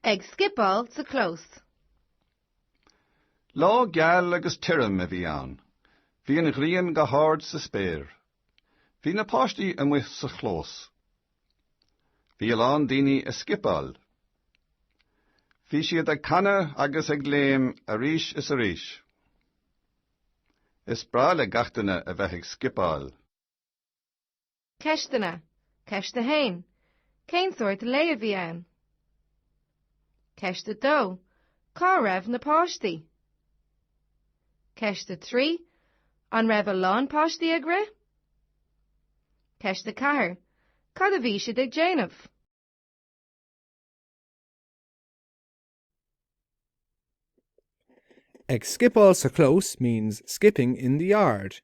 Ag scipeáil sa clós. Lá geal agus tirim a bhí ann. Bhí an ghrian go hard sa spéir. Bhí na páistí amuigh sa chlós. Bhí a lán daoine ag scipeáil. Bhí siad ag canadh agus ag léim arís is arís. Is breá le gach duine a bheith ag scipeáil. Ceisteanna. Ceist a haon. Cén sórt lae a bhí ann? Ceist a dó. Cá raibh na páistí? Ceist 3, An raibh a lán páistí ag rith? Ceist 4, Cad a bhí siad ag déanamh? Ag scipeáil sa chlós means skipping in the yard.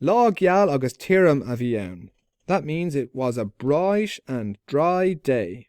Lá geal agus tirim a bhí ann. That means it was a bright and dry day.